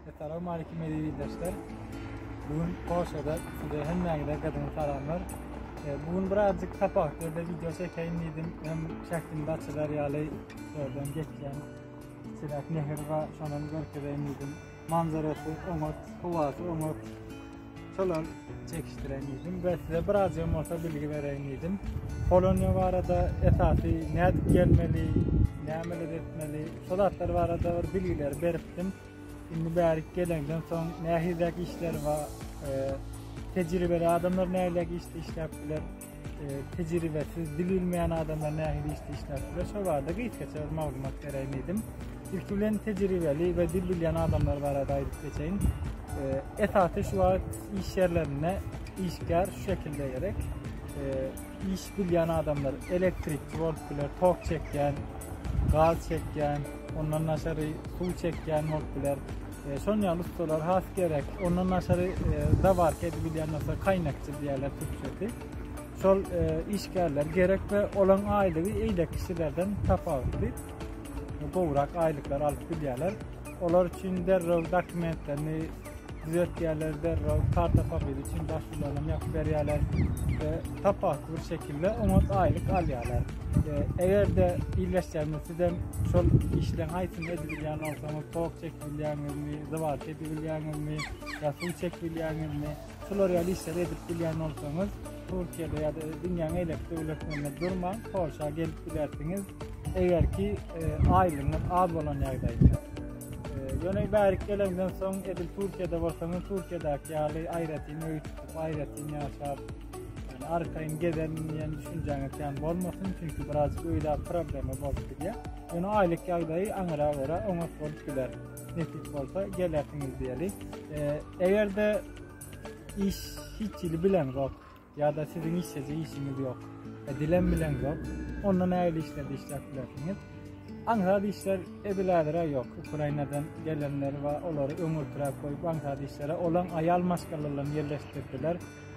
Assalamu aleykum eziz ildeşler. Bugün Polşada size hemmäňize gadymy salamlar. E, bugün birazcık sapak derde video çekeyim dedim. Hem şähtimde açylar ýaly şordan geçýän çirak nehir we şondan görkezeyim dedim. Manzarasy oňat, howasy oňat. Salam, çekişdiren idim ve size biraz yem olsa bilgi veren idim. Polonya var da esası ne edip gelmeli, ne amel etmeli, solatlar var da bir bilgiler beriptim. Şimdi berik gelenden son ne hizek işler var, e, tecrübeli adamlar ne hizek işler işler bilir. tejribesiz, dil bilmeýän adamlar nähili işde işläpdirler, şol barada gysgaça bir maglumat bereýin diýdim. Ilki bilen tejribeli we dil bilýän adamlar barada aýdyp geçeýin. Esasy şu wagt iş ýerlerinde işgär şu şekilde gerek. Iş bilýän adamlar elektrikçi bolup biler, tok çekýän, gaz çekýän, ondan daşary suw çekýän bolup biler. Şon ýaly ussalar has gerek. Ondan daşary zawarka edip bilýän bolsa kaýnakçy diýerler türkçesi. Şol e, işgärler gerek we olaryň aýlygy eýle kişilerden tapawutly. Gowrak aýlyklar alyp bilýärler. Olar üçin derrew dokumentlerini düzeltýärler, derrew karta papiry üçin başwurlaryny ýapyp berýärler we tapawutly bir şekilde oňat aýlyk alýarlar. E, eger-de illeşýände sizem şol işleň aýtyny edip bilýän bolsaňyz, Bilýäňizmi, zywat edip bilýäňizmi, ýa suw çekip bilýäňizmi? Şular ýaly işleri edip bilýän bolsaňyz, Türkiýede ýa-da dünýäň eýlek döwletlerinde durmaň, Polşa gelip bilersiňiz. Eger ki, e, aýlygyňyz az bolan ýagdaýynda. E, ýöne bärik gelenden soň, edil Türkiýede bolsaňyz, Türkiýedäki ýaly aýratyn öý tutup, aýratyn ýaşap, ýöne arkaýyn gezerin diýen düşünjäňiz kän bolmasyn, çünki biraz öýdäki problema bolup bilýär. Ýöne aýlyk ýagdaýy aňyra görä oňat bolup biler. Nesip bolsa gelersiňiz diýeli. Eger-de iş hiç hili bileňok ýa-da siziň işjeje işiňiz ýok, e, dilem bileňok, onda nähili işlerde işläp bilersiňiz? Aňsat işler edil häzir-ä ýok. Ukrainadan gelenler we olary öňürtiräk goýup aňsat işlere olaň aýal maşgalalaryny ýerleşdirdiler.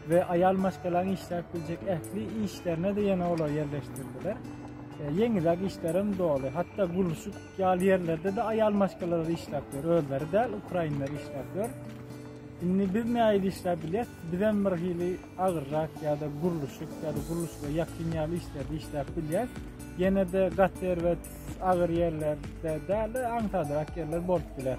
we aýal maşgalaň işläp biljek ähli işlerine-de ýene olar ýerleşdirdiler. E, ýeňiläk işlerem doly. Hatda gurluşyk ýaly ýerlerde-de aýal maşgalalar işläp ýör. Özleri däl, ukrainler işläp ýör. Indi biz näýli işläp bilýär? Bizem bir hili agyrrak ýa-da gurluşyk ýa-da gurluşyga ýakyn ýaly işlerde işläp bilýär. Ýene-de gater we agyr ýerlerde däl, aňsadrak ýerler bolup biler.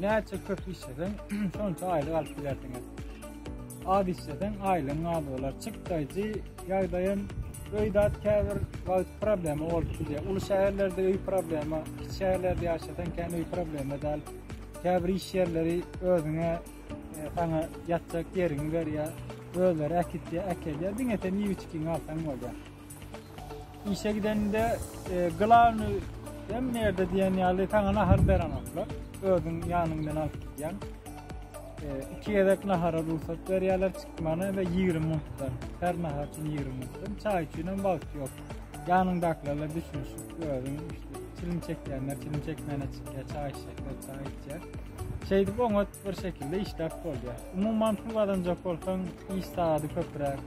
Näçe köp işleseň, şonça aýlyk alyp bilersiňiz. Az işleseň, aýlygyň az bolar. Çykdaýjy ýagdaýam öýdat käbir wagt problema bolup bilýär. Uly şäherlerde öý problema, kiçi şäherlerde ýaşasaň kän öý problema däl. Käbir iş ýerleri özüňe e, saňa ýatjak ýeriňi berýär. Özleri äkitýär, äkelýär. Diňe sen iýip içkiňi alsaň bolýar. Işe gidende e, glavny hem nerede diyen ýaly sana nahar berenoklar. Özün yanından alıp gidýän. E, iki yedek nahara rugsat berýärler çykmana ve 20 minutdan. Her nahar için 20 minutdan. Çay için hem wagt yok. Yanındakilerle düşünüşip özün işte çilim çekýänler çilim çekmene çykýar, çay içecekler, çay içýär. Şeydip oňat bir şekilde işläp bolýar. Umuman pul gazanjak bolsaň iş saady köpräk.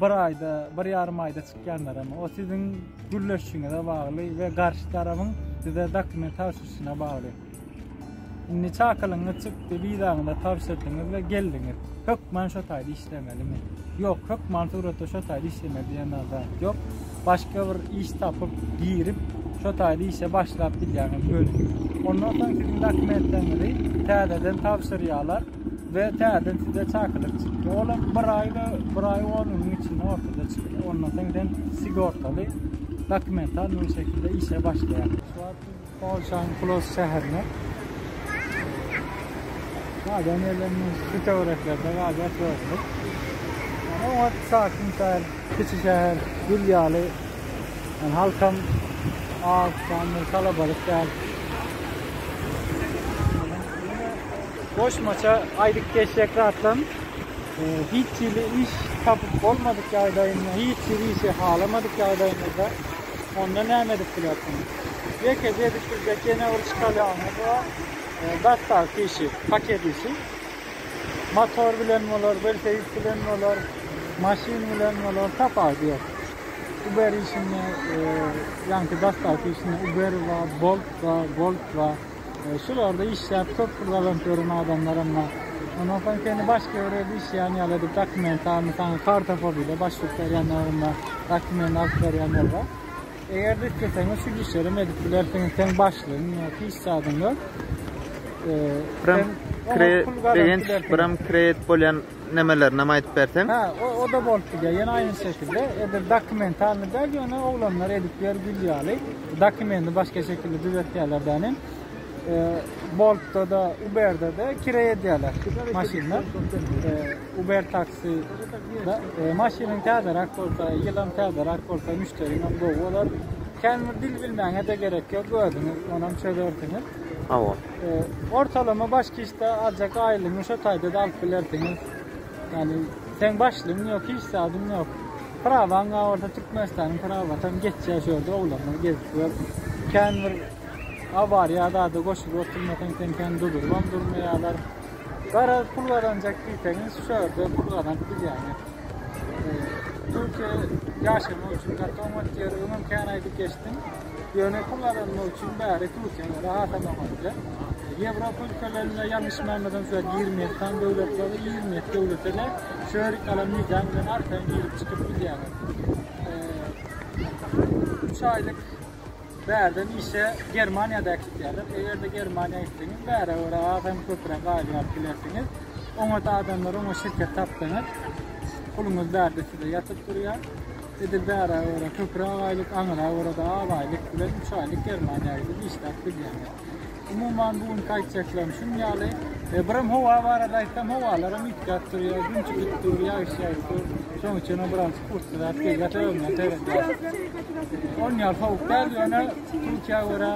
Bir aýda, bir ýarym aýda çykýanlaram, o siziň gürleşişiňize bagly we garşy tarabyň size dokument tabşyryşyna bagly. Indi çakylygyňyz çykdy, wizaňyzy tabşyrdyňyz we geldiňiz. Hökman şo taýda işlemelimi? Ýok, hökman suratda şo taýda işlemeli diýen zat ýok. Başga bir iş tapyp, girip, şo taýda işe başlap bilýäňiz göni. Ondan soň siziň dokumentleriňizi täzeden tabşyrýarlar. we täze size çakylyk çykdy. Olam bir aý we bir aý on günüň içinde ortada çykdy. Ondan soň sen sigortaly dokumental bu şekilde işe başlaýar. Şu wagt Polşanyň Plos şäherinde. Galan ýerlerinde şu töwereklerde galan şöyle. Yani o wagt sakin şäher, kiçi şäher, gül ýaly. Yani halkam az, kalabalyk däl. Goşmaça aýdyp geçjek zatym, hiç hili iş tapyp bolmadyk ýagdaýynda, hiç hili işi halamadyk ýagdaýyňyzda onda näme edip bilersiňiz? Ýeke edip biljek ýene bir çykalýaňyz bar, dastaw işi, paket işi. Motor bilen bolar, welosiped bilen bolar, maşyn bilen bolar, tapawut ýok. Uber işinde, ýaňky dastaw işinde Uber bar, Bolt bar, Bolt bar. Şularda işläp köp pul gazanyp ýören adamlar emma ondan soň seni başga bir ýerde işleýän ýaly edip dokument almy saňa karta fobile başwurt berýän ýagynda dokument alyp berýän bollar. Eger de isleseňiz şu işlerem edip bilersiňiz sen başlygyň ýa-da iş zadyňda. Pram kre begenç pram kreýt bolýan nemeler näme aýdyp berseň. Ha, o, o da bolup gidýär. Ýene aýny şekilde. Edir dokumentalny däl, ýöne oglanlar edip ber gül ýaly. Dokumenti başga şekilde düzetýärler däne. E, Boltda da, Uberda da kire edýärler maşynda. E, Uber taksi da e, maşynyň täzerak bolsa, ýylam täzerak bolsa, müşderiň hem gowy bolar. Känbir dil bilmäňe de gerek ýok, özüňiz onam çözersiňiz. Hawa. Ortalama baş kişde aljak aýlygyňy şo taýda-da alyp bilersiňiz. Ýani, seň başlygyň ýok, hiç zadyň ýok. Prawaň bar bolsa Türkmenistanyň prawy tam geçýär şu ýerde oglanlar gezip ýör. Kän bir awariýa zada goşulyp oturmasaň sen kän dudurybam durmaýarlar. Garaz pul gazanjak diýseňiz şu ýerde pul gazanyp bilýäňiz. Türkiýe ýaşamak üçin gaty oňat ýer, öňem kän aýdyp geçdim. Ýöne kullanmak üçin bäri Türkiýede rahat alamadylar. Ýewropa ülkelerinde ýalňyşmamyzdan size 27 san döwlet bar, 27 döwlete de şörik alan nizam bilen arkaýyn girip çykyp bilýärler. Üç aýlyk bärden işe Germaniýada gitýärler. Eger-de Germaniýa gitseňiz, bäre görä az hem köpräk aýlyk alyp bilersiňiz. Oňat adamlar, oňa şirket tapsaňyz, puluňyz bärde size ýatyp durýar. Edil bärä görä köpräk aýlyk, aňyra görä-de az aýlyk bilen üç aýlyk Germaniýa gidip işläp bilýäňiz. Umuman, bu günki aýtjaklarym şun ýaly. Birem howa barada aýtsam, howalaram üýtgäp durýar, gün çykyp dur, ýagyş ýaýyp dur. Şonuň üçin hem biraz pursatyzap geýýär, sebäbine seredýär. Ony ýaly sowuk däl, ýöne Türkiýä görä,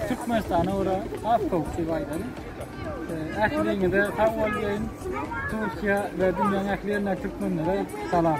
Türkmenistana görä has sowuk diýip aýdaryn. Ähliňize sag bolýyn. Türkiýe we dünýäň ähli ýerine türkmenlere salam.